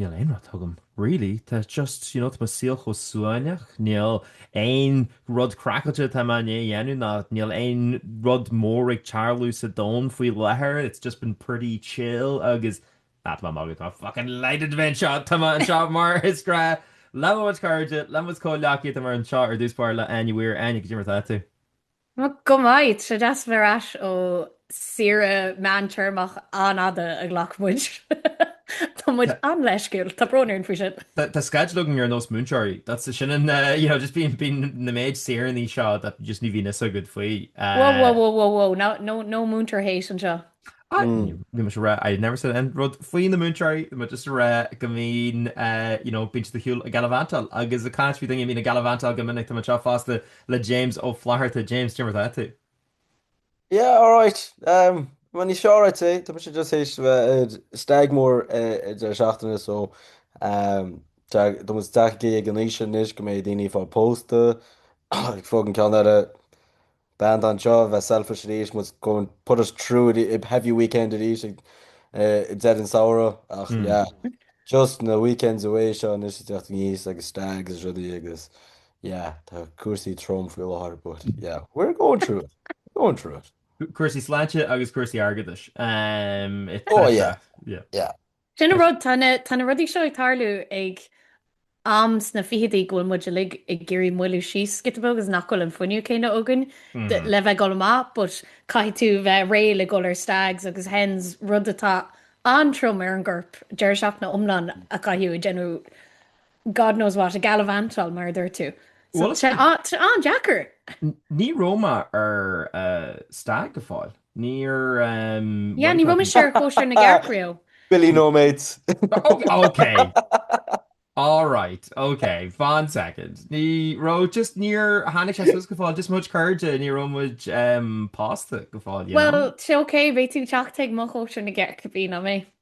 níl aon rud agam, really, tá just, you know, tá mo saol chomh suaimhneach, níl aon rud craiceáilte atá mé i ndiaidh a dhéanamh ná níl aon rud mór ag tarlú sa domhan faoi láthair, it's just been pretty chill agus, ah, tá mé ag magadh, tá mé fucking delighted a bheith anseo, tá mé anseo mar is gnách le mo chuid cairde, le mo chuid comhleacaithe, tá mé anseo ar dtús báire le hÁine Mhaoir, Áine, cad é mar atá tú? Bhuel, go maith, tá sé deas bheith ar ais ó saoire meántéarmach an-fhada a ghlac muid. Tá muid an-leisciúil, tá brón orainn faoi sin! Tá sceideal againn ar nós múinteoirí, that's, sin an, you know, just bíonn, bíonn an méid saoiríní seo that just ní bhíonn fhios agat faoi. Whoa, whoa, whoa, whoa, whoa, no, no, no múinteoir hate anseo. Bhí muid ag rá, I never said aon rud faoi na múinteoirí, bhí muid just ag rá go mbíonn, you know, bíonn tú ar shiúl ag gallivantáil agus ag caint faoi daoine a mbíonn ag gallivantáil go minic. Tá mé anseo fosta le James Ó Flatharta. James, cad é mar atá tú? Yeah, all right. Um, well, ní seo, I'd say. Tá mé just th'éis bheith ar stag mór i deireadh seachtaine, so um, tá muid tagthaí ag an aois anois go mbeidh daoine ag fáil pósta, ag fág an ceann eile, Bean don seo a bheith selfish arís, was going to put us through a heavy weekend arís ag deireadh an samhradh, ach yeah, just na weekends away seo anois ag teacht aníos agus stags is rudaí agus yeah, tá cúrsaí trom faoi láthair but yeah, we're going through it, we're going through it. Cúrsaí sláinte agus cúrsaí airgeadais, etc. Oh yeah, yeah. Sin an rud, tá na rudaí seo ag tarlú ag am sna fichidí go bhfuil muid uilig ag iarraidh moilliú síos giota beag agus nach bhfuil an fuinneamh céanna againn le bheith ag dul amach, but caithfidh tú bheith réidh le dhul ar stags agus hens, rud atá an-trom ar an gcorp, deireadh seachtaine iomlán a chaitheamh ag déanamh God knows what, ag gallivantáil, mar a dúirt tú. So, Bhuel, tá sé an-deacair. n- ní raibh mé ar eh, stag go fóill. Níor... ehm, Yeah, ní raibh mise ar chóisir na gcearc riamh. Billy No Mates. O- ok. All right, ok, one second. Ní raibh, just níor tháinig sé suas go fóill, just mo chuid cairde, ní raibh muid ehm, pósta go fóill, you know. Well, sé, ok, beidh tú ag teacht chuig mo chóisir na gcearc, bhí, ná bí.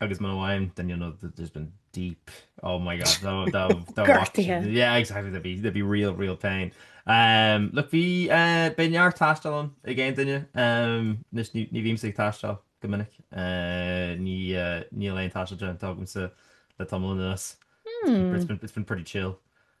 agus muna bhfaighim then you'll know that there's been deep oh my god dá dá dá Gortaithe. watch- yeah exactly there'd be there'd be real real pain um look bhí eh, beidh neart taistil ann ag aon duine um anois ní ní bhímse ag taisteal go minic eh, ní eh, níl aon taisteal déanta agamsa le tamall anuas it's been it's been pretty chill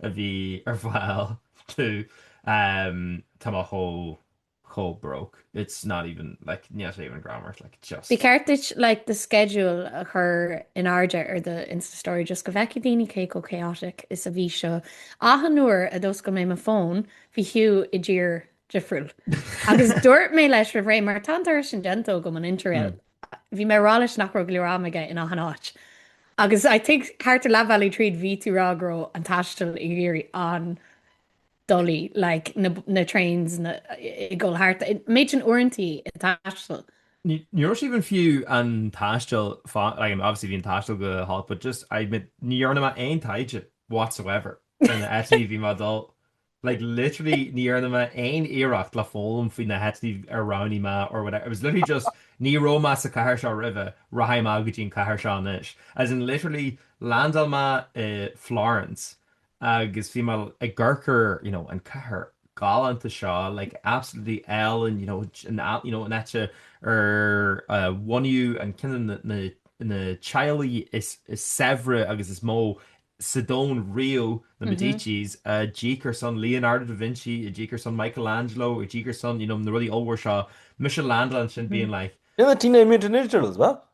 a bhí ar fáil tá mé chomh chomh broke it's not even like níl sé even greannmhar like just. Ba cheart duit like do schedule a chur in airde ar do insta story just go bhfeicfidh daoine cé chomh chaotic is a bhí seo achan nuair a d'oscail mé mo fón bhí Hugh i dtír difriúil agus dúirt mé leis roimhré mar tá an turas sin déanta agam an interrail Bhí mé ag rá leis nach raibh go leor ama aige in achan áit. Agus I think thart ar leath bealaigh tríd bhí tú ag rá go raibh an taisteal ag éirí an-doiligh, like na na trains ag dul thart. An méid sin uaireantaí an taisteal? Ní raibh sé even fiú an taisteal fan, like I mean obviously bhí an taisteal go holc but just I admit ní dhearna mé aon taighde whatsoever ar na áiteanna bhí mé ag dul. like literally ní dhearna mé aon iarracht le foghlaim faoi na háiteanna ar roghnaigh mé or whatever. It was literally just ní raibh mé sa chathair seo roimhe, rachaidh mé go dtí an chathair seo anois. As in literally land mé i Florence agus bhí mé i gceartlár, you know, an chathair galánta seo, like absolutely álainn, you know, an áit, you know, an áit ar bunaíodh an, cineál na, na teaghlaigh is, is saibhre agus is mó sa domhan riamh, na Medicis, a d'íoc ar son Leonardo da Vinci, a d'íoc ar son Michelangelo, a d'íoc ar son, you know, na rudaí ollmhór seo. Mise ag landáil ansin being like. Sin an Teenage Mutant Ninja Turtles, as well?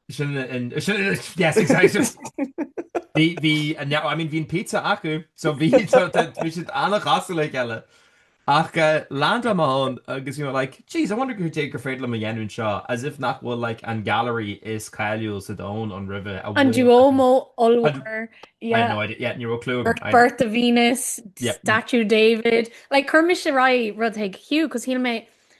Sin an, sin, yes, exactly. Bhí, bhí, I mean, bhí an pizza acu, so bhí, bhí siad an-chosúil le chéile. Ach land mé ann agus you know like jeez I wonder cad é gur féidir liom a dhéanamh anseo, as if nach bhfuil like an gallery is cáiliúla sa domhan ann riamh a An bhfuil Duomo ollmhór, I yeah, have no idea, yeah ní raibh clú agam, I know. Birth of Venus, Yeah. Statue David, like chuir mise ar aghaidh rud chuig Hugh 'cause shíl mé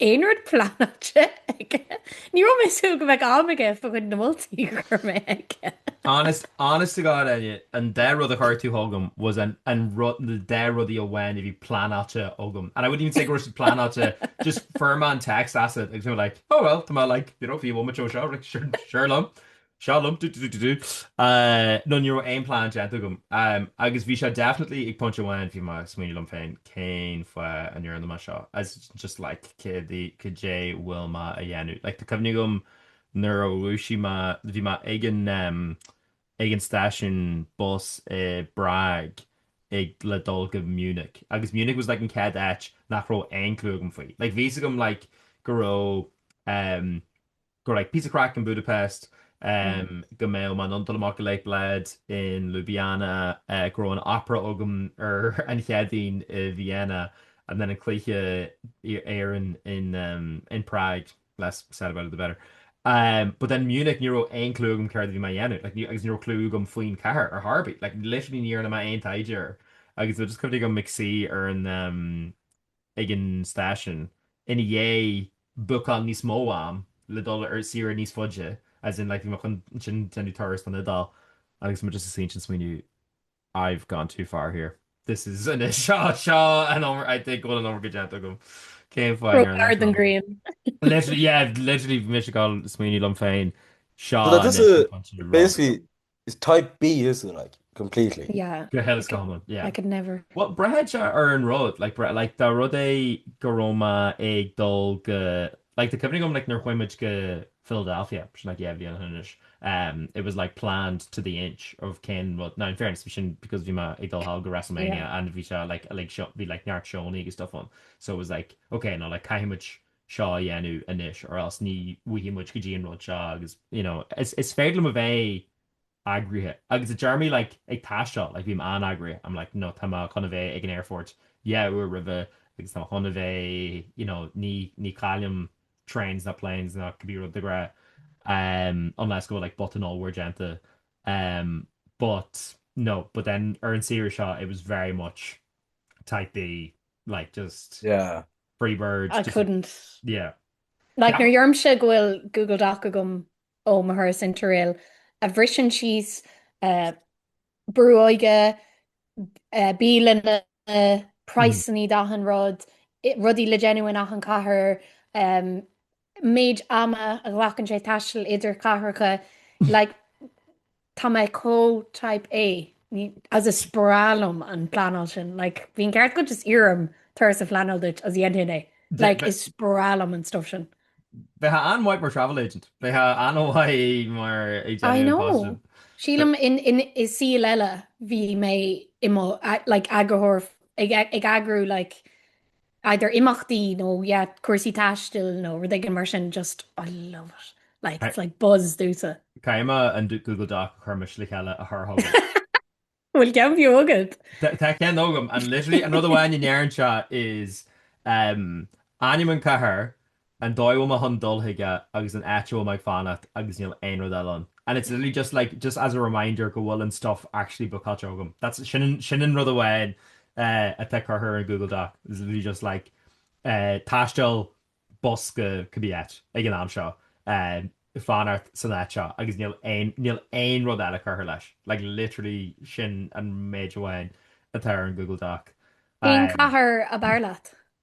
aon rud pleanáilte Nach bhfuil aon rud pleanáilte aige. Ní raibh mé ag súil go mbeadh am aige fá choinne na moltaí a chuir mé chuige. Honest, honest to God, Áine, an dá rud a chuir tú chugam was an, an rud, na dá rudaí amháin a bhí pleanáilte agam. And I wouldn't even say go raibh siad pleanáilte, just fuair mé an text uait, agus mé like, oh well, tá mé like, you know, if you want me to seo, like, seo, seo liom. Seo liom, du du du du du. Nó ní raibh aon plean déanta agam. Agus bhí sé definitely ag pointe amháin bhí mé ag smaoineamh liom féin cén fáth a ndearna mé seo. As just like cad é cad é a bhfuil mé a dhéanamh. Like tá cuimhne agam nuair a dhúisigh mé, bhí mé ag an em, ag an stáisiún bus i bPrág ag le dul go Munich. Agus Munich was like an chéad áit nach raibh aon clue agam faoi. Like bhí's agam like go raibh em, go raibh píosa craic in Budapest, go mbeadh Bled iontach amach i Lake Bled, in Ljubljana, go raibh an Opera agam ar an Chéadaoin i Vienna, and then an cluiche Éireann in Prague, less said about it the better. But then Munich, ní raibh aon clue agam céard a bhí mé a dhéanamh, like agus ní raibh clue agam faoin chathair ar chor ar bith, like literally ní dhearna mé aon taighde air agus tá just cuimhne agam ag suí ar an, ag an stáisiún ina dhiaidh bookáil níos mó am le dul ar saoire níos faide as in like chun ansin déanamh turas don Iodáil agus muid just ag suí ansin smaoineamh I've gone too far here this is anois seo seo an ábhar I think go bhfuil an ábhar go déanta agam céim fáin Broke hard an grian. literally yeah literally bhí mé just ag smaoineamh liom féin seo Well, that is a- basically It's type B isn't it, like, completely. Yeah. Go huile is go hiomlán, yeah. I could never. Well, braitheann sé ar an rud, like, braitheann, like, dá rud é go raibh mé ag dul go, like, tá cuimhne agam, like, nuair a chuaigh muid go Philadelphia, bhí sin, like, dhá bhliain ó shin anois, um, it was, like, planned to the inch of cén rud, now, in fairness, bhí sin because bhí mé ag dul thall go WrestleMania and bhí sé, like, uilig, bhí, like, neart seónna agus stuff ann, so it was, like, ok, now, like, caithfidh muid seo a dhéanamh anois or else ní bhfaighidh muid go dtí an rud seo agus you know, is, is féidir liom a bheith eagraithe agus i dtéarmaí like, ag taisteal like, bhím an-eagraithe I'm like, no, tá mé chun a bheith ag an airport dhá uair roimhe agus tá mé chun a bheith you know, ní, ní chaillim trains ná planes ná cibé rud de ghnáth um, unless go bhfuil like, botún ollmhór déanta um, but no, but then ar an saoire seo it was very much type B like just yeah Freebird. I couldn't. Yeah. Like nuair a deirimse go bhfuil Google Doc agam ó mo thuras Interrail a bhriseann síos uh, brú óige, uh, bialanna, praghsanna mm. d'achan rud, rudaí le déanamh in achan cathair, um, méid ama a ghlacann sé taisteal idir cathracha like tá mé chomh type A agus is breá liom an pleanáil sin like bím ceart go just iarr orm turas a phleanáil duit agus dhéanfaidh mé like is breá liom an stuff sin. Bheifeá an-mhaith mar travel agent. Bheifeá an-mhaith mar ag déanamh an post sin. Sílim i saol eile bhí mé i mo like eagraitheoir ag eagrú like either imeachtaí nó yeah cúrsaí taistil nó rud éigin mar sin just I love it like it's like buzz domhsa. Caithfidh mé an Google Doc a chuir mise le chéile a chur chugat. Bhfuil ceann fiú agat? Tá ceann agam and literally an rud amháin a ndeireann sé is ainm an chathair An dóigh a bhfuil mé chun dul chuige agus an áit a bhfuil mé ag fanacht agus níl aon rud eile ann. And it's literally just like, just as a reminder go bhfuil an stuff actually bookáilte agam. That's, sin an, sin an rud amháin atá curtha ar an Google Doc. It's literally just like eh, taisteal bus go cibé áit ag an am seo, eh, fanacht san áit seo agus níl aon, níl aon rud eile curtha leis. Like literally sin an méid amháin atá ar an Google Doc. Cén eh. cathair ab fhearr leat?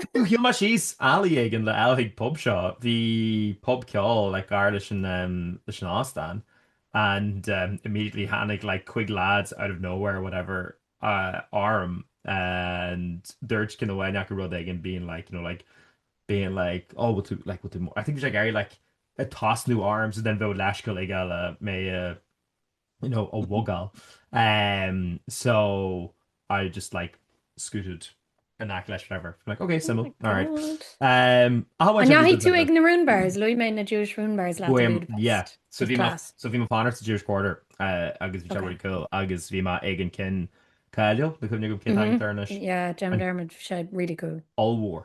Shiúil mé síos alley éigin le dhul chuig pub seo. Bhí pub ceoil like gar leis an em leis an óstán and em immediately tháinig like cúig lads out of nowhere whatever eh orm and dúirt ceann amháin acu rud éigin being like you know like being like oh we'll do like we'll do more I think bhí sé ag iarraidh like ag tosnú orm so then bheadh leithscéal aige like mé a nó a mhugáil. So I just like scooted in aice leis whatever. Like, ok, suimiúil, alright. An ndeachaigh tú ag na ruin bars? Luaigh mé na Jewish ruin bars leat i Budapest. Yeah. So bhí mé, so bhí mé ag fanacht sa Jewish Quarter agus bhí sé really cool agus bhí mé ag an ceann cáiliúil, níl cuimhne agam cén t-ainm atá air anois. Yeah, déanaim dearmad, bhí sé really cool. Ollmhór.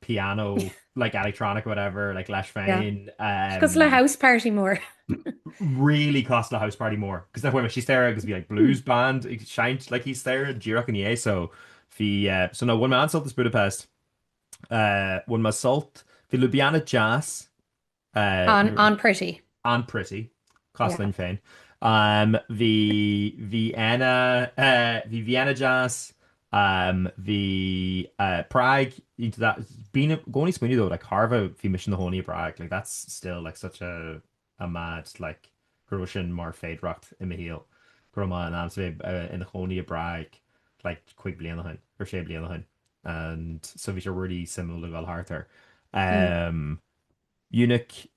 piano, like electronic whatever, like leis féin. Yeah. Cosúil le house party mór. Really cosúil le house party mór. Cos then chuaigh mé síos staighre agus bhí like blues band ag seinnt like thíos staighre díreach i ndiaidh so bhí eh, so no, bhain mé an-sult as Budapest. Eh, bhain mé sult, bhí Ljubljana deas. An-pretty. An-pretty, cosúil linn féin. Bhí Vienna, bhí Vienna deas, bhí Prague, bím i gcónaí ag smaoineamh though, like, thairbhe bhí mise ina chónaí i bPrág, like, that's still, like, such a a mad, like, go raibh sin mar féidearthacht i mo shaol, go raibh mé in ann, so bhí mé ina chónaí i bPrág, like, cúig bliain ó shin, or sé bliain ó shin, and so bhí sé really suimiúil le dul thart air. Munich,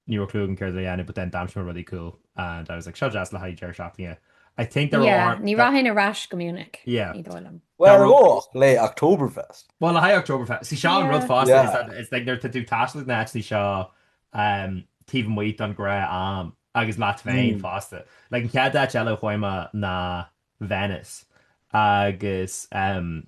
Ní raibh clue agam céard le déanamh but then d'aimsigh mé rudaí cool and I was like, seo deas le haghaidh deireadh seachtaine. I think there Yeah, are, ní rachainn ar ais go Munich, Yeah. ní dóigh liom. Well, Dar- oh, ach le Oktoberfest. Well, le haghaidh Oktoberfest, see seo an rud Yeah. fosta, Yeah. is that it's like nuair atá tú ag taisteal ag na háiteanna seo um, taobh amuigh don ghnáth-am agus leat féin Mm. fosta. Like an chéad áit eile a chuaigh mé ná Venice agus um,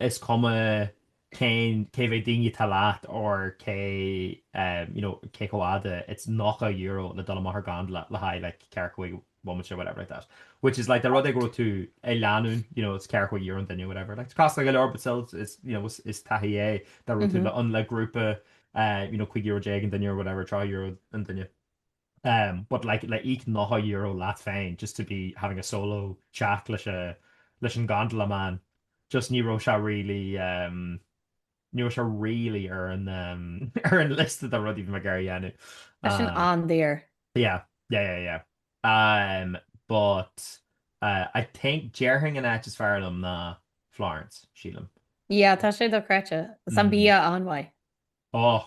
is cuma cén, cé mhéad daoine atá leat or cé em you know cé chomh fhada it's nócha euro le dul amach ar gondola le haghaidh like ceathracha cúig bomaite whatever like that which is like the rud dá raibh tú i lánúin you know it's ceathracha cúig euro an duine whatever like costasach go leor but still it's you know is taithí é dá raibh tú le an le grúpa eh you know cúig euro déag an duine or whatever tríocha euro an duine But like, le íoc €90 leat féin just to be having a solo chat leis a, leis an gondola man, just ní raibh sé really, um, ní raibh sé really ar an, um, ar an liosta de rudaí bhí mé ag iarraidh a dhéanamh. Tá sin an-daor. Yeah, yeah, yeah, yeah. Um, but, uh, I think, déarfainn an áit is fearr liom ná Florence, sílim. Yeah, tá sé dochreidte. Is an bia an-mhaith. Oh,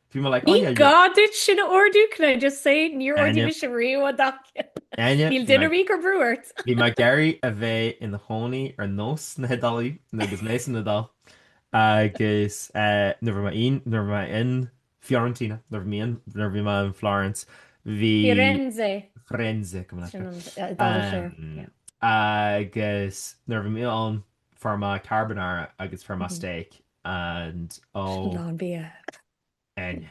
Ní gá duit sin a ordú, can I just say, níor ordaigh mise sin riamh an dá cheann. Níl duine riamh gur brú ort. Bhí mé ag iarraidh a bheith i mo chónaí ar nós na hIodálaigh agus mé san Iodáil agus nuair bhí mé in, nuair bhí mé in, Fiorentina, nuair bhí mé in, nuair bhí mé in Florence, bhí, Firenze, Firenze, go minic, sin an Iodáilis dó, yeah. agus nuair bhí mé ann, fuair mé carbonara agus fuair mé steak and ó. lán bia Áine.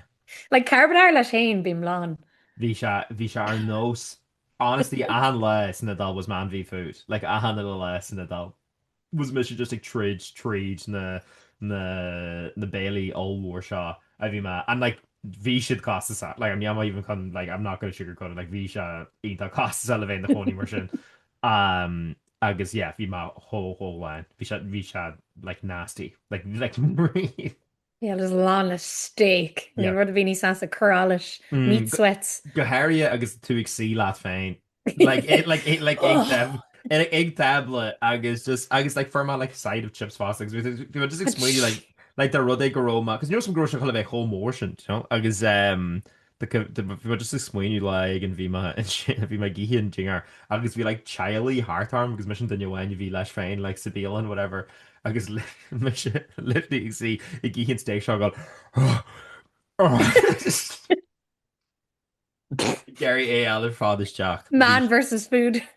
Like carbonara leis féin, bím lán. bhí sé, bhí sé ar nós, honestly, achan lá san Iodáil was Man v. Food, like achan uile lá san Iodáil was mise just ag troid tríd na, na, na béilí ollmhóra seo a bhí mé, and like bhí siad costasach, like I'm not even chun, like I'm not gonna sugarcoat it, like bhí sé iontach costasach le bheith ina chónaí mar sin. Agus yeah, bhí mé chomh, chomh lán. Bhí sé, bhí sé like nasty. Like, like really. Yeah, lán le steak. Níl rud ar bith níos measa, cur allais, meat sweats. Go háirithe agus tú ag suí leat féin. Like, i, like, i, like, ag taib-, ag, ag tábla agus just, agus like fuair mé like side of chips fosta agus bhí, bhí mé just ag smaoineamh like, like an rud é go raibh mé, cos ní raibh fhios agam go raibh sé ag gabháil a bheith chomh mór sin, do you know? Agus eh. Bhí mé just ag smaoineamh like bhí mé ansin, bhí mé ag ithe an dinnéir agus bhí like teaghlaigh thart orm agus mise an duine amháin a bhí leis féin like sa bialann whatever agus mise literally ag suí ag ithe an steak seo ag iarraidh é a fháil ar fad isteach. Man versus food.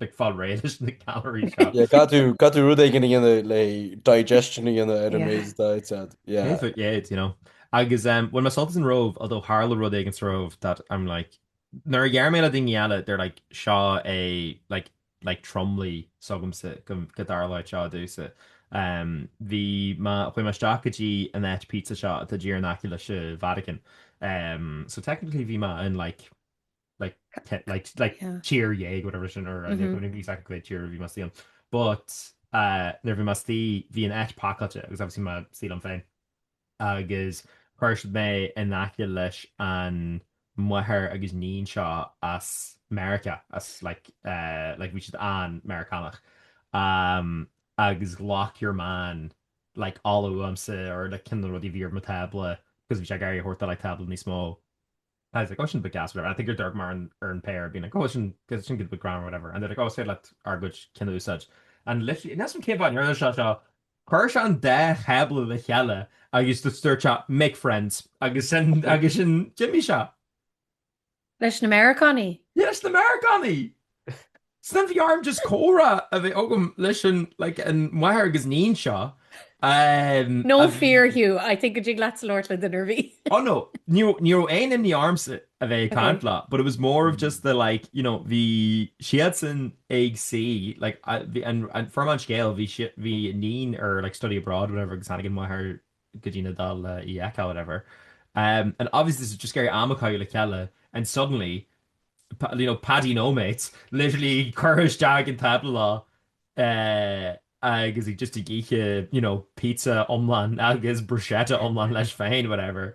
ag fáil réidh leis na calories. Caithfidh tú rud éigin a dhéanamh le digestion a dhéanamh ar an méid a d'ith tú. Perfect, yeah, you know. Agus bhain mé sult as an Róimh, although tharla rud éigin sa Róimh that I'm like, nuair a deir mé le daoine eile, they're like, seo é, like, like tromluí s'agamsa go dtarlódh seo dúinn. Bhí mé, chuaigh mé isteach go dtí an áit pizza seo atá díreach in aice leis an Vatican. So technically bhí mé in like, tír eile whatever sin or níl fhios agam cén tír a bhí mé istigh ann. But nuair bhí mé istigh bhí an áit pacáilte agus obviously mé ag taisteal liom féin agus chuir siad mé in aice leis an máthair agus iníon seo as Meiriceá as like like bhí siad an-Mheiriceánach agus ghlac your man like ola uaimse or like cibé rudaí a bhí ar mo thábla cos bhí sé ag iarraidh é a thabhairt do like tábla níos mó I was like, oh sin go breá agus, whatever. And I think gur d'amharc mé ar an phéire being like, oh sin go, sin go, beidh go grand or whatever. And they're like, oh is féidir leat ár gcuid cinn a úsáid. And literally, níl a fhios agam cén fáth ndearna sé seo, chuir sé an dá thábla le chéile agus just dúirt sé, make friends. Agus sin, agus sin d'imigh sé. Leis na Meiriceánaigh? Yeah, leis na Meiriceánaigh! Ansin bhí orm just comhrá a bheith agam leis an like an mháthair agus níon seo ehm No fear Hugh, I think go dtig leat labhairt le duine ar bith. Oh no, ní raibh ní raibh aon imní ormsa a bheith ag Ok. caint leo but it was more of just the like you know bhí siadsan ag suí like a- bhí an an foirm an scéil bhí si- bhí a níon ar like study abroad whatever agus tháinig an mháthair go dtí an Iodáil le í a fheiceáil, whatever. Um and obviously bhí siad just ag iarraidh am a chaitheamh le chéile and suddenly, you know, Paddy No Mates, literally cuireadh isteach ag an tábla leo eh agus é just ag ithe, you know, pizza iomlán agus bruschetta iomlán leis féin, whatever.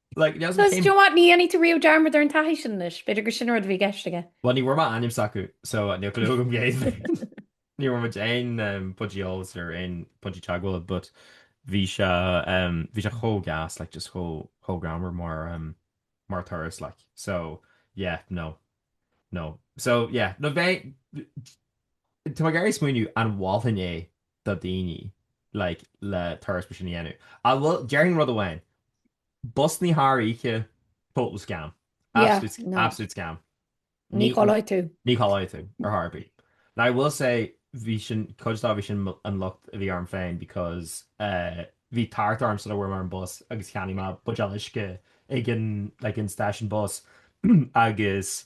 Like, it hasn't Does, came... do you know what, ní dhéanfaidh tú riamh dearmad ar an taithí sin anois, b'fhéidir gur sin an rud a bhí i gceist aige. Well, ní bhfuair mé ainm s'acu, so níl clue agam cé hiad. Ní bhfuair mé aon um, pointe eolais or aon pointe teagmhála, but bhí sé, um, bhí sé chomh gas, like, just chomh, chomh greannmhar mar, um, mar turas, like. So, yeah, no. No. So, yeah, no, bheith... Tá mé ag iarraidh smaoineamh an mholfainn é do dhaoine like le turas mar sin a dhéanamh. Ah bhuel, déarfainn rud amháin, busannaí thar oíche, total scam. Yeah, Absolute, no. absolute scam. Ní chodlóidh tú. Ní chodlóidh tú, ar chor ar bith. Now I will say, bhí sin, cuid dá bhí sin mo- an locht a bhí orm féin because eh, bhí tart orm sula bhfuair mé ar an bus agus cheannaigh mé buidéal uisce ag an, like an stáisiún bus agus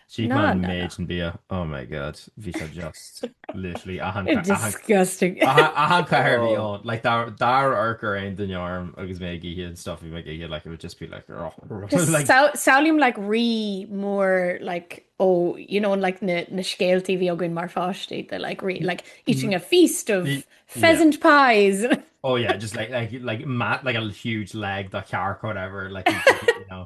D'ith mé an méid sin bia, oh my god, bhí sé just literally achan chathair a bhí ann, like dá n-amharcfadh aon duine orm agus mé ag ithe an stuff a bhí mé ag ithe, like it would just be like oh. Samhlaím like rí mór like ó you know like na scéaltaí a bhí againn mar pháistí de like rí like eating a feast of pheasant pies. Oh yeah, just like like like like a huge leg de cearc or whatever like you know.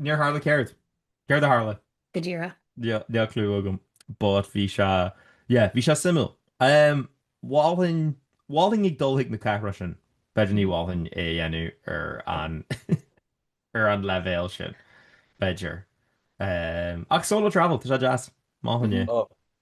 Níor tharla céard? Céard a tharla? Go díreach. Níl clue agam but bhí sé yeah bhí sé suimiúil. Ehm Mholfainn Mholfainn ag dul chuig na cathracha sin. B'fhéidir ní mholfainn é a dhéanamh ar an ar an leibhéal sin. B'fhéidir. Ehm ach solo travel tá sé deas. Mholfainn é.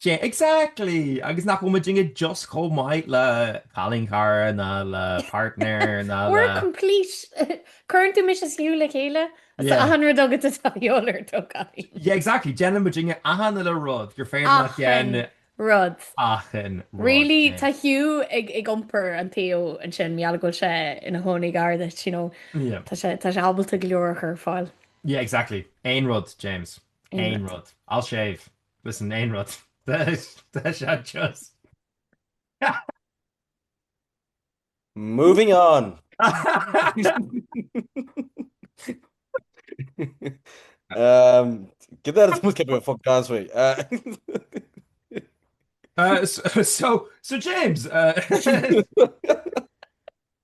Yeah, exactly! Agus nach bhfuil muidinne just chomh maith le cailín cara ná le partner ná le... We're complete! Cuireann tú mise is Hugh le chéile? Is achan rud agat atá de dhíobháil ort ó chailín. Yeah, exactly! Déanann muidinne achan uile rud gur féidir leat dhéan... Achan rud! Achan rud! Really? Tá Hugh ag iompar an tseó ansin, mar gheall go bhfuil sé ina chónaí gar duit, you know. Yeah. Tá sé, tá sé ábalta go leor a chur ar fáil. Yeah, exactly! Aon rud, James. Aon rud. Aon rud. I'll shave. Listen, aon rud. Tá sé just. Moving on. um, get that as much kept a fuck dance way. Uh, uh, so, so, so James, uh,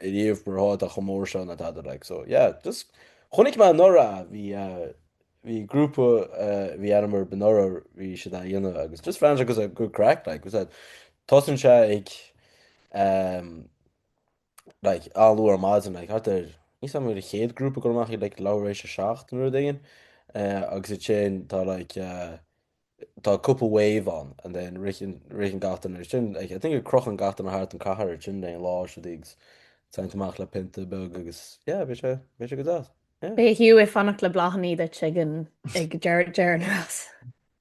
i ndiaidh mar atá chomh mór seo ná dadaidh like so yeah just chonaic mé anuraidh a bhí a bhí grúpa a bhí aithne agam orthu anuraidh bhí siad á dhéanamh agus just bhreathnaigh sé good craic like was that tosaíonn sé ag um, like an-luath ar maidin like thart ar níl fhios agam an chéad grúpa ag goil amach like leathuair tar éis a seacht nó rud éigin uh, agus ansin tá like uh, Tá cúpla wave ann and then ritheann, ritheann gach duine ar sin. Like, I think go crochann gach duine thart an cathair ansin don lá seo dtí agus téann tú amach le pionta beag agus yeah, beidh sé, beidh sé go deas. Yeah. Beidh Hugh ag fanacht le bláthannaí duit ag an, ag deireadh, deireadh na rás.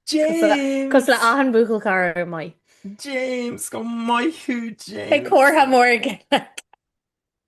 James! Cosúil le achan buachaill cara maith. James, go maith thú, James! Beidh comhartha mór ag.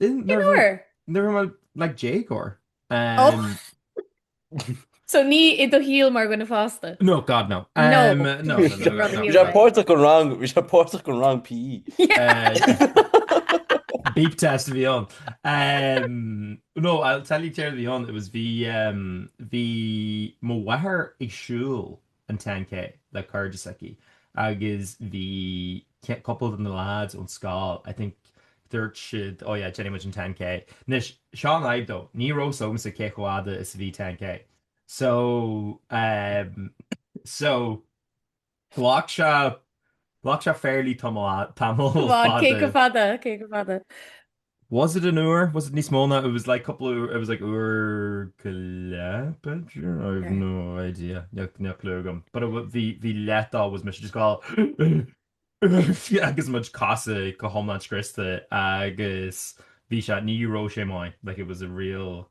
Nuair a bhí mé like déagóir. So ní i do shaol mar duine fásta? No, God no. Páirt den rang, páirt den rang PE. Beep test a bhí ann. No, I'll tell you céard a bhí ann, it was bhí bhí mo mháthair ag siúl an ten K le cairde s'aici agus bhí cupla de na lads ón scoil, I think, dúirt siad, oh yeah, déanfaidh muid an ten K. Anois, seo an fhadhb though, ní raibh fhios agamsa cé chomh fada is a bhí ten K. So, ehm, so, ghlac sé, ghlac sé fairly tamall, tamall fada. Cé chomh fada, cé chomh fada? Was it an uair? Was it níos mó ná, it was like cúpla uair, it was like uair go leith, b'fhéidir? I have no idea, níl, níl clue agam. But it wa- bhí, bhí leath de was mise just ag goil ugh agus mo chosa go hiomlán scriosta agus bhí sé, ní raibh sé maith, like it was a real,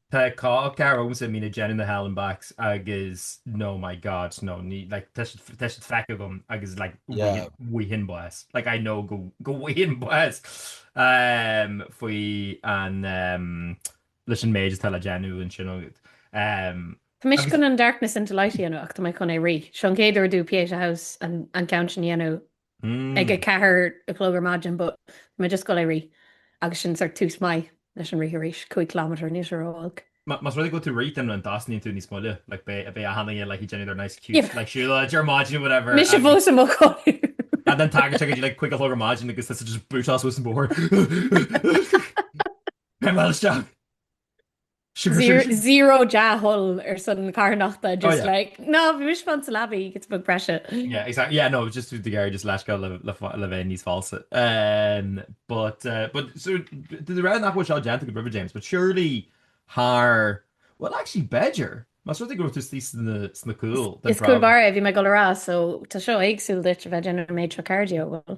Tá cúpla cara agamsa a mbíonn ag déanamh na Hell and Backs agus no my god no ní like, tá siad tá siad feicthe agam agus like, Yeah. bhfaighinn, bhfaighinn bás. Like, I know go go bhfaighinn bás um, faoi an um, leis an méid atá le déanamh ansin agad. Um, Tá mise Agus- chun an darkness into light a dhéanamh ach tá mé chun é a rith. Seo an chéad uair dom Pieta House an ceann sin a dhéanamh ag a ceathair a chlog ar maidin, but mé just ag goil é a rith, agus sin sort tús maith leis an rith arís, cúig ciliméadar aníos ar óilg. Más rud é go bhfuil tú ag rith then an dtosnaíonn tú níos moille, like beidh beidh achan duine ag like déanamh their nice cute like siúlóid ar maidin whatever. Mise fós i mo chodladh. and then tagann sé go dtí like cúig a chlog ar maidin agus tusa just bootáil suas an bóthar. Beidh mé isteach. Zero dea-thoil ar son na carthanachta, just like, no, bhí mise fanacht sa leabaidh, giota beag breise. Yeah, exactly, yeah, no, just ag iarraidh just leithscéal le bheith níos falsa. But, but, so, de réir nach bhfuil seo déanta agat roimhe, James, but surely thar, well, actually, b'fhéidir, más rud é go raibh tú istigh sna cúil den tráth. Is cúl báire é, bhí mé ag dul a rá, so tá seo éagsúil duit a bheith ag déanamh an méid seo cardio, well.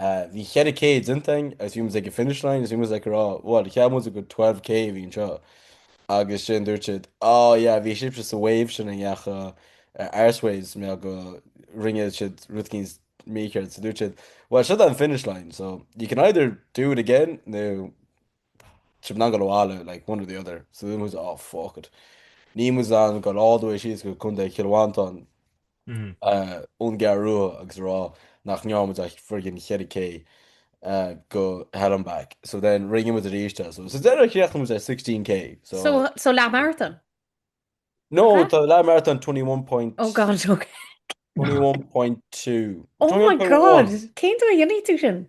Bhí cheithre K déanta againn agus bhí muid ag an finish line agus bhí muid ag rá, bhuel, cheap muid gur 12K a bhí anseo. Agus ansin dúirt siad, á, yeah, bhí sibhse sa wave sin a ndeachaigh arseways mar go rinne siad rud eicínt mícheart. So dúirt siad, bhuel, seo é an finish line, so you can either do it again nó sibh in ann goil abhaile, like one or the other. So dúirt muid, á, fuck it. Níl muid in ann goil all the way síos go Contae Chill Mhantáin ón gCeathrú Rua agus a rá nach ndearna muid ach friggin' cheithre K de Hell and Back. So then rinne muid aríst é. So sa deireadh chríochnaigh muid ar 16K. So So so leath marathon. No, Huh? tá leath marathon 21 point Oh god, okay. 21.2. Oh my god. Cinnte déanfaidh tú sin?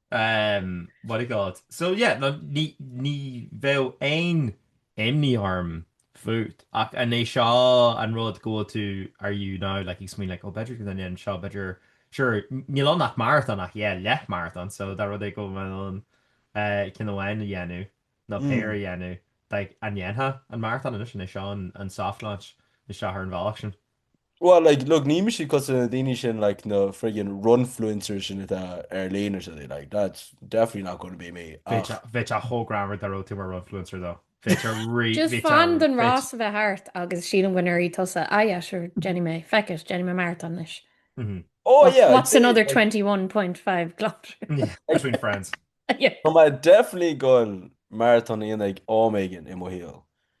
Ahem. What do you call it. So yeah, no, ní, ní bheadh aon imní orm fút, ach an é seo an rud go bhfuil tú, are you now, like, ag smaoineamh, like, oh, b'fhéidir go ndéanfainn seo, b'fhéidir, sure, n- níl ann ach marathon, ach yeah, leath marathon, so dá rud é go bhfuil in ann uh, ceann amháin a dhéanamh, nó Mm. péir a dhéanamh, like, an ndéanfá an marathon, anois an é seo an, an soft launch, na seo ar an bhealach sin. Bhuel, like, look, ní mise cosúil leis na daoine sin, like, na friggin' runfluencers sin atá ar líne so, like, that's definitely not going to be me, Bheadh ach... sé- bheadh sé chomh greannmhar dá raibh tú mar runfluencer though. Bhí sé rí- Just bhí sé- fan don bhí- rás a bheith thart agus sílim go ndéarfaidh tusa, ah yeah, sure, déanfaidh mé, feck it, déanfaidh mé marathon anois. Mhm. Oh What's- yeah, I'd What's say, another like, 21.5 kilometres? Yeah, between friends. Yeah. Tá mé definitely ag goil marathon a dhéanamh am éigin i mo shaol.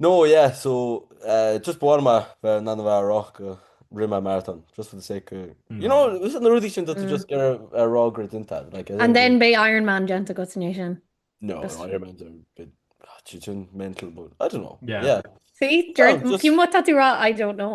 No yeah so eh just b'fhearr mé bheith in ann a bheith á rá go rith mé maratón just for the sake of you know usa na rudaí sin do tú just ar ar rá gur déanta like as And in then beidh Ironman déanta agat inné sin. no Just- no Ironmans are a bit ah, sin sin mental but I don't know Yeah. yeah Sea, deir- Well, just- cén mhaith tá tú rá I don't know.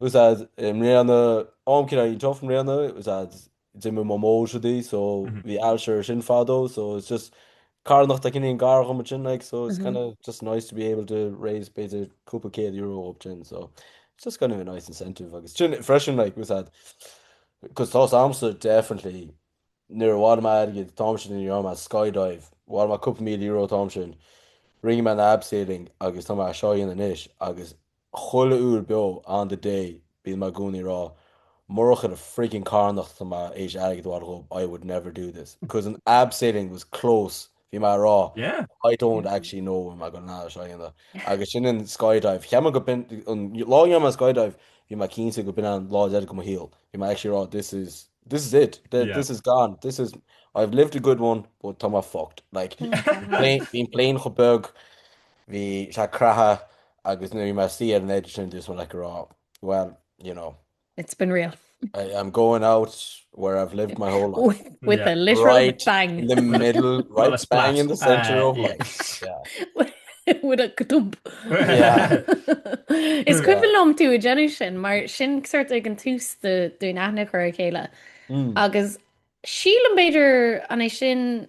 A fhios agat i mbliana, am kind of tough i mbliana, a fhios agat, d'imigh Mamó, so bhí, so bhí ailse uirthi sin fadó, so it's just carthanacht atá cineál gar dhom ansin, like, so it's kind of just nice to be able to raise b'fhéidir cúpla céad euro dhóibh sin, so it's just kind of a nice incentive agus sin freisin, like, a fhios agat, cos tá a fhios agamsa definitely nuair a bhailigh mé airgead dhóibh sin i gcomhair an skydive, bhailigh mé cúpla míle euro dhóibh sin, rinne mé an abseiling agus tá mé é seo a dhéanamh anois agus chuile uair beo on the day bíonn mé i gcónaí ag rá murach an friggin carthanacht atá mé tar éis airgead a bhailiú dhób I would never do this cause an abseiling was close bhí mé ag rá Yeah. I don't actually know an mbeidh mé in ann é seo a dhéanamh agus ansin an skydive cheap mé gurb in an lá a rinne mé an skydive bhí mé cinnte gurb in an lá deireadh de mo shaol bhí mé actually ag rá this is this is it Th- Yeah. this is gone this is I've lived a good one but tá mé fucked like Plane- bhí an plane chomh beag bhí sé ag croitheadh Agus nuair a bhí mé istigh ar an eitleán sin, do thosaigh mé like a rá, well, you know. It's been real. I am going out where I've lived my whole life. With, with yeah. a literal right bang. in the middle, right well, bang in the centre uh, of yeah. life. Yeah. with a kdub. Is cuimhin liom tú ag déanamh sin mar sin sórt ag an tús dúinn aithne a chur ar a chéile. Mm. agus sílim b'fhéidir an é sin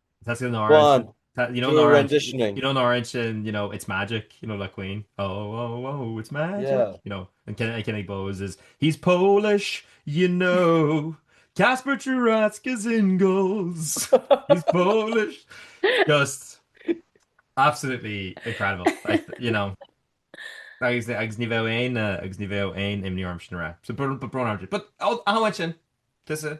Tá sí an áird. You know an áird. You know an áird sin, you know, it's magic, you know, le Queen. Oh, oh, oh, it's magic. Yeah. You know, an cinnig Bose is, he's Polish, you know. Casper True Rats gives ingalls. He's Polish. Just absolutely incredible. Like, you know. agus agus ní bheith aon uh, agus ní bheith aon imní orm sin ra. So br br br. But áhain sin tusa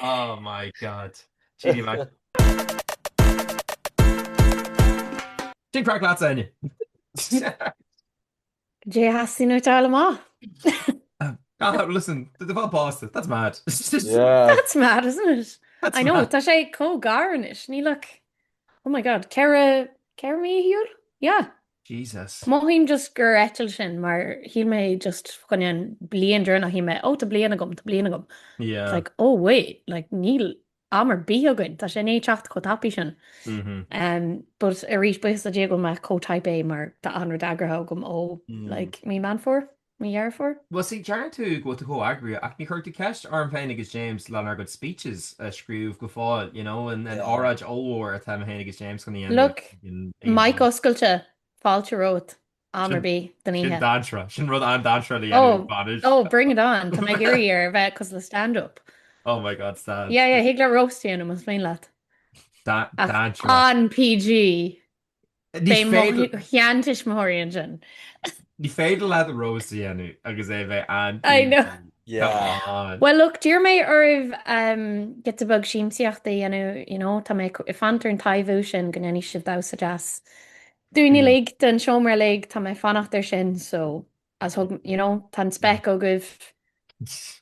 Oh my God. Jeannie Mac. Sin craic lads inniu. Cad é a theastaíonn uait a fháil amach. Ah, listen, le bheith pósta, that's mad. Yeah. That's mad, isn't it? That's I know, mad. tá sé chomh gar anois. Níl ach, oh my God, ceithre, ceithre mí ar shiúl? Yeah. Jesus. Mothaím just gur eitilt sin mar shíl mé just tá a fhios agat an bhliain deireanach shíl mé oh tá bliain agam, tá bliain agam. It's like oh wait, like níl am ar bith againn, tá sé i ndiaidh teacht chomh tapaidh sin. But arís buíochas le Dia go bhfuil mé chomh type A mar tá achan rud eagraithe agam ó like mí Mheán Fómhair. mo dheirfiúr. Bhuel sea, deireann tú go bhfuil tú chomh eagraithe, ach níor chuir tú ceist orm féin agus James lenár gcuid speeches a scríobh go fóill, you know, an óráid ollmhór atá mé féin agus James chun a Look, dhéanamh. mic oscailte, fáilte romhat, am ar bith den Sin oíche. dainséarach. Sin rud an-dainséarach le déanamh bainis. Oh, oh, bring it on, tá mé ag iarraidh é a bheith cosúil le stand up. Oh my God, stand. Yeah, yeah, thig leat roast a dhéanamh, más mian leat. Da- Ach dainséarach. an-PG! Beidh do sheantuismitheoirí ansin. Ní féidir leat an roast a dhéanamh agus é bheith an. I know. Yeah. Well look, d'iarr mé oraibh um, giota beag siamsaíochta a dhéanamh, you know, tá mé ag fanacht ar an am sin go ndéanfaidh sibh damhsa deas. Dúinn mm. uilig, don seomra uilig, tá mé ag fanacht ar sin, so is dócha you know tá an spec agaibh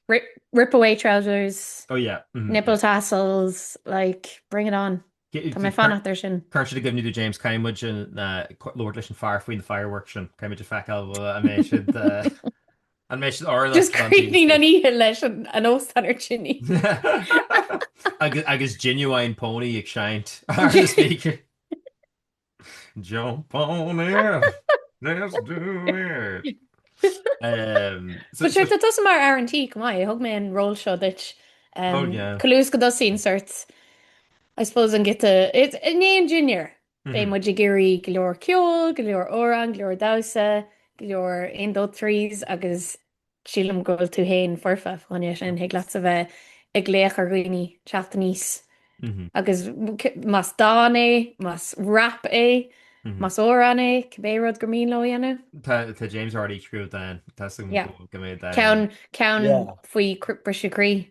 rip rip away trousers oh yeah mm-hmm nipple tassels like bring it on tá mé ag fanacht ar sin Cuir sin i gcuimhne do James caithfidh muid labhairt leis an fhear faoi na fireworks sin caithfidh muid a fheiceáil an mbeidh siad an mbeidh siad áirithe just críochnóidh an oíche leis an óstán ar tine agus agus Ginuwine Pony ag seinnt Jump on it! Let's do it! Bhuel, tá tusa mar fhear an tí, chomh maith, thug mé an ról seo duit. Ionas go dtosaíonn sort, I suppose, an giota, i ndiaidh an dinnéir, beidh muid ag iarraidh go leor ceoil, go leor amhrán, go leor damhsa, go leor aon dó threes agus Sílim go bhfuil tú féin foirfe fá choinne sin, thig leat a bheith ag glaoch ar dhaoine teacht aníos agus más dán é, más rap é, más amhrán é, cibé rud is mian leo a dhéanamh. Tá James already ag scríobh dán, tá súil agam go mbeidh dán. Ceann faoi Briseadh Croí,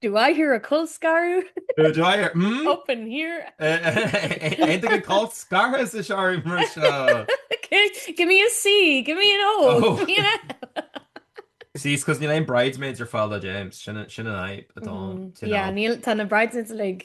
Do I hear a colscaradh? Do I hear, hmm? Up in here? Aon duine colscartha sa seomra mar seo? Give me a C, give me an O. See, it's because níl aon bridesmaids ar fáil do James, sin an fhadhb atá ann. Yeah, níl, tá na bridesmaids uilig.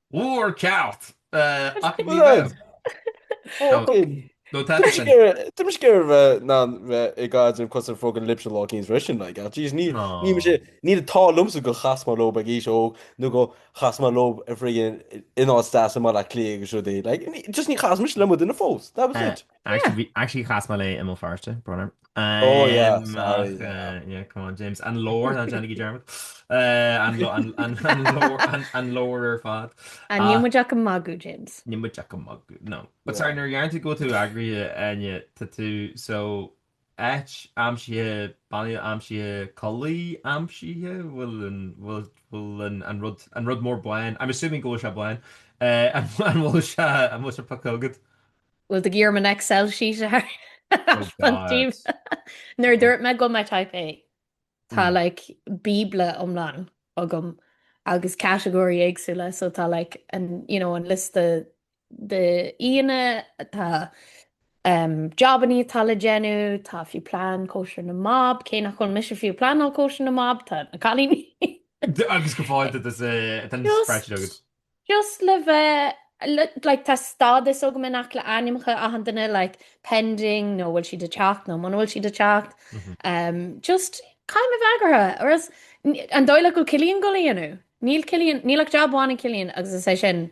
Bhúr ceart! Ach ní raibh. Fócain! Nó tá sé sin. Tá mé sciar a bheith ná a bheith i gcaid an cos ar fócain libhse lá éicint freisin, like, ach jeez, ní, ní mé sé, níl an t-ádh liomsa go chas mé leo ag aois óg, nó go chas mé leo ar friggin' in áit deas i mBaile Átha Cliath agus rudaí, like, ní, just ní chas mise le mo dhuine fós, that was it. Actually, actually chas mé léi i mBéal Feirste, brón orm. Oh, yeah, Um, sorry, ach, yeah. uh, yeah, come on, James. An lore, ná déanaigí dearmad. Uh, an lo- an- an- an lore- an- an lore ar fad. A Ah. níl muid ach ag magadh, James. Níl muid ach ag magadh, no. But Yeah. sorry, nuair deireann tú go bhfuil tú eagraithe, Áine, tá tú, so, Áit aimsithe, Baile aimsithe, Culaith aimsithe, bhfuil an, bhfuil, bhfuil an, an rud, an rud mór bán, I'm assuming go bhfuil sé bán, eh, an, an bhfuil sé, an bhfuil sé pioctha agat? Bhfuil tú ag iarraidh orm an Excel sheet thar Oh fon God. taobh? Nuair a Oh. dúirt mé go bhfuil mé Type A, tá Mm. like bíobla iomlán agam agus catagóirí éagsúla, so tá like an, you know, an liosta de aíonna, tá jabannaí atá le déanamh, tá fiú plean cóisir na mBab, cé nach bhfuil mise fiú pleanáil cóisir na mBab, tá na cailíní. Agus go fóill duit, tá an spreadsheet agat. Just le bheith, like, tá stádas agam in aice le ainmneacha achan duine, like, pending, nó bhfuil siad ag teacht, nó muna bhfuil siad ag teacht. Just caithfidh mé a bheith eagraithe, or else, an dóigh leat go bhfuil Cillian ag gabháil é a dhéanamh? Níl Cillian, níl ach jab amháin ag Cillian agus is é sin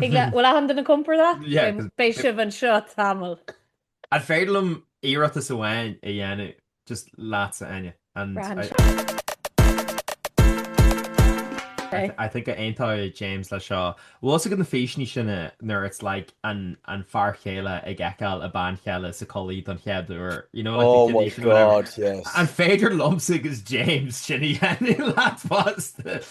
Ag le bhfuil achan duine compordach? Yeah, Beidh 'cause beidh sibh anseo tamall. An féidir liom iarratas amháin a dhéanamh just leat, a Áine? And Braithim I, seo. I, th- I think aontóidh James leis seo. Bhfuil a fhios agat na físeanna sin eh, nuair it's like an, an fear chéile ag fheiceáil a bean chéile sa chulaith don chéad uair, you know, like the Oh my tradition, whatever. god, yes. An féidir liomsa agus James sin a dhéanamh leat fosta?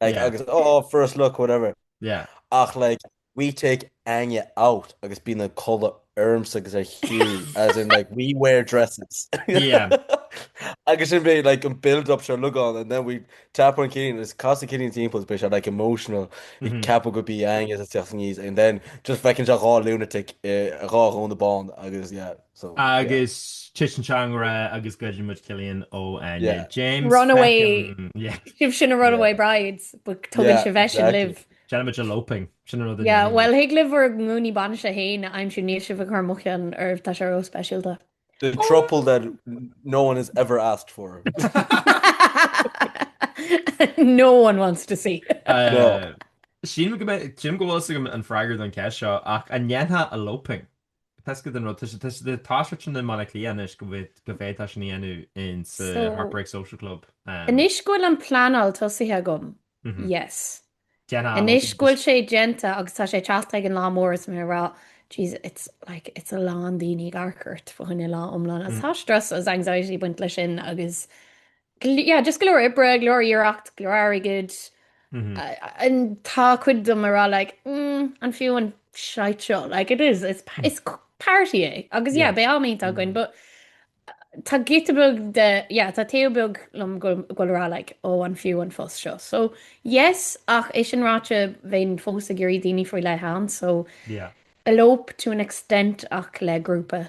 Like, yeah. agus, oh, first look, whatever. Yeah. Ach, like, we take Anya out agus bí na colla ormsa agus ar chiú, as in, like, we wear dresses. yeah. agus sin bhé, like, an build-up se lugán, and then we tap on Killian, is casa Killian Timples, bhé se, like, emotional, mm -hmm. cap go bí Anya sa teach níos, and then just fecinn se gá lunatic, uh, gá gón na bán, agus, yeah, Agus titeann sé i ngrá agus goideann muid Cillian ó Áine James. Runaway. Sibhse na Runaway Brides, but tugann sibh eisean libh. Déanann muid eloping. Sin rud a dhéanann. Yeah, well thig libh bhur ngúnaí bainise féin a aimsiú níl sibh ag cur mo cheann oraibh, tá sé ró-speisialta. The throuple that no one has ever asked for. No one wants to see. Sílim go bhfuil a fhios agam an freagra don cheist seo ach an ndéanfá eloping? Toisc don rud, tá sé, tá sé trendy i mBaile Átha Cliath anois go bhféadfá sin a dhéanamh in sa Heartbreak Social Club. Anois go bhfuil an pleanáil tosaithe agam, yes. Anois go bhfuil sé déanta agus tá sé teacht chuig an lá mór is mé ag rá, jeez, it's like, it's a lán daoine ag amharc ort fá choinne lá iomlán. Agus tá strus agus anxiety baint leis sin agus Yeah, just go leor oibre, go leor iarracht, go leor airgid. And tá cuid díom ag rá like, mm, an fiú an shite seo, like it is, it's, pa- it's c- party é. Agus yeah, Yeah. beidh an-am againn, but uh, tá giota beag díom, yeah, tá taobh beag liom go fóill ag rá like, ó an fiú an fuss seo. So yes, ach é sin ráite bheinn fós ag iarraidh daoine faoi leith ann, so Yeah. elope to an extent ach le grúpa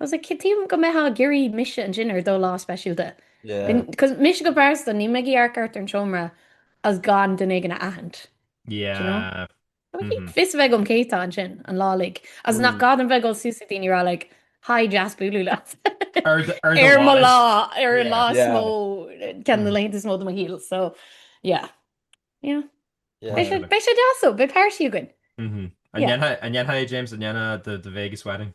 Agus an gcaithfidh mé go mbeifeá ag iarraidh mise ansin ar do lá speisialta. Cos mise go pearsanta, ní maith liom amharc thart ar an tseomra is gan duine éigin a aithint. Fios a bheith agam cé atá ansin, an lá uilig. Agus nach gá dom bheith ag dul suas ag daoine a rá like, hi deas bualadh leat ar mo lá, ar an lá is mó, ceann de na laethanta is mó de mo shaol. So yeah. Beidh sé deas, ó, beidh páirtí againn. An ndéanfá James an ndéanfá the Vegas wedding?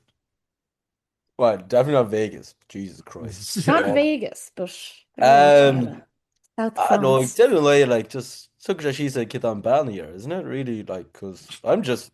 Well, definitely not Vegas, Jesus Christ. Not Vegas, but South France. No, ag deireadh an lae, like, just, tá sé suas ag cibé cén bhean a deir, isn't it really, like, cos I'm just,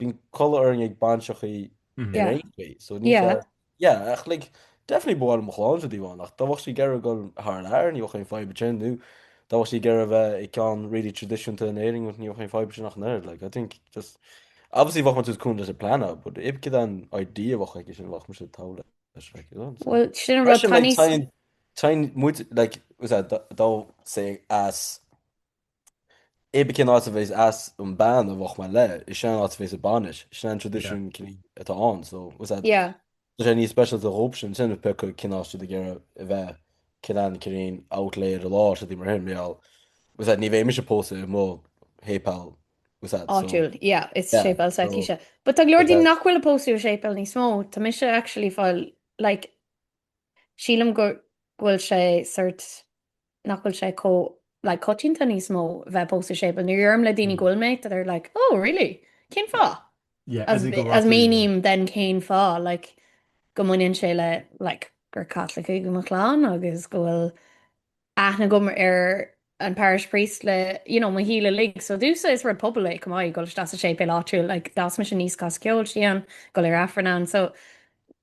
Bíonn codladh orainn ag bainseachaí ar aon chaoi. So níl fhios, yeah, ach like, definitely ba mhaith liom mo chlann sin de amháin, ach dá mbeadh sí ag iarraidh goil thar lear, ní bheadh aon fhadhb ansin, nó dá mbeadh sí ag iarraidh bheith ag ceann really traidisiúnta in Éirinn, ní bheadh aon fhadhb ansin ach an oiread, like, I think just, obviously bheinn sásta cúnamh leis an pleanáil, but cibé cén idea bheadh aici sin bheadh muid sásta dul leis. Well, sin rud taní... Tá muide, like, bhfuil fhios agat, tá sé as It became an áit a bheas as an bean a bheadh mar leith, is sin an áit a bheas a bainis, sin an tradition cní atá ann, so was that, Yeah. tá sé níos special do dhóp sin, sin pe chuig cin áit de gcéire a bheith, cin an cirín, out late ar a lá, seo dí mar sin, meall, was that, ní bheidh mise pósa i mo shéipéal, was that, so, Áitiúil, yeah, is Yeah, séipéal so- Saicíse. But tá glóir But dí that- nach bhfuil a pósadh i séipéal níos mó, tá mise actually fáil, like, Sílim go bhfuil sé sort, nach bhfuil sé chomh like coitianta níos mó bheith ag pósadh sa séipéal. Nuair a deirim le daoine go bhfuil mé, they're like, oh really? Cén fáth? Yeah, as if go rachaidh. Is míním then cén fáth, like go mbaineann sé le like gur Caitlicigh mo chlann agus go bhfuil aithne agam ar an parish priest le, you know, mo shaol uilig. So domsa is rud pobail é, chomh maith, dhul isteach sa séipéal áitiúil, like d'fhás mise aníos ag casadh ceoil istigh ann, ag goil ar Aifreann ann, so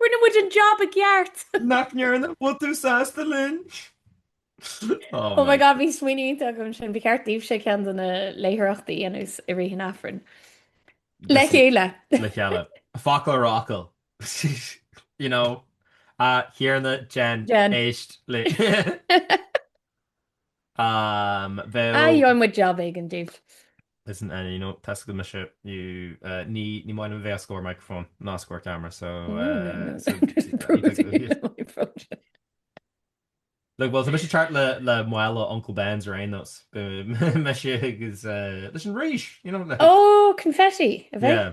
Rinne muid an job i gceart! Nach ndearna? Bhfuil tú sásta linn? Oh my god, bhí smaoineamh iontach agam ansin, ba cheart daoibhse ceann de na léitheoireachtaí dhéanamh i rith an Aifrinn. Le chéile! Le chéile. Focal ar fhocal. You know? A Thiarna, Jen, éist linn. Am bheadh. Aye, gheobhaidh mé job éigin daoibh. Listen, Annie, you know, tá a fhios agat mise, you, uh, ní, ní maith liom bheith os comhair microphone, ná os comhair camera, so, uh, no, no, no. so, I'm just promoting Look, well, tá mise thart le, le mála Uncle Ben's ar aon nós, mise agus, uh, leis an rís, you know. Like, oh, confetti, a bheith. Yeah.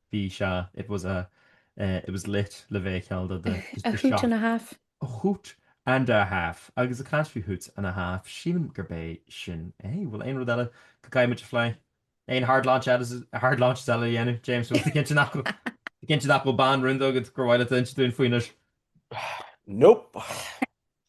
Bhí, sea. It was a, eh, it was lit, le bheith ag ceangal do the, the, the shop. A hoot and a half. A hoot and a half. Agus ag caint faoi hoots and a half, sílim gurb é sin é. Bhfuil aon rud eile go gcaithfidh muid a phlé? Aon hard launch, hard launches eile a dhéanamh, James? Bhfuil tú cinnte nach bhfuil, cinnte nach bhfuil bean rúnda agat gur mhaith leat a insint dúinn faoi anois? Nope.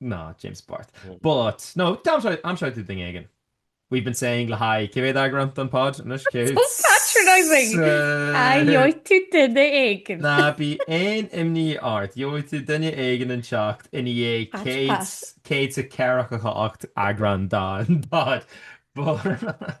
Ná James Barth. But, no, aimseoidh tú duine éigin. We've been saying le haghaidh cé mhéad eagrán den pod anois? Cé mhéad? So patronising! Gheobhaidh tú duine éigin. Ná bí aon imní ort, gheobhaidh tú duine éigin ag teacht ina dhiaidh 148 eagrán den pod. But.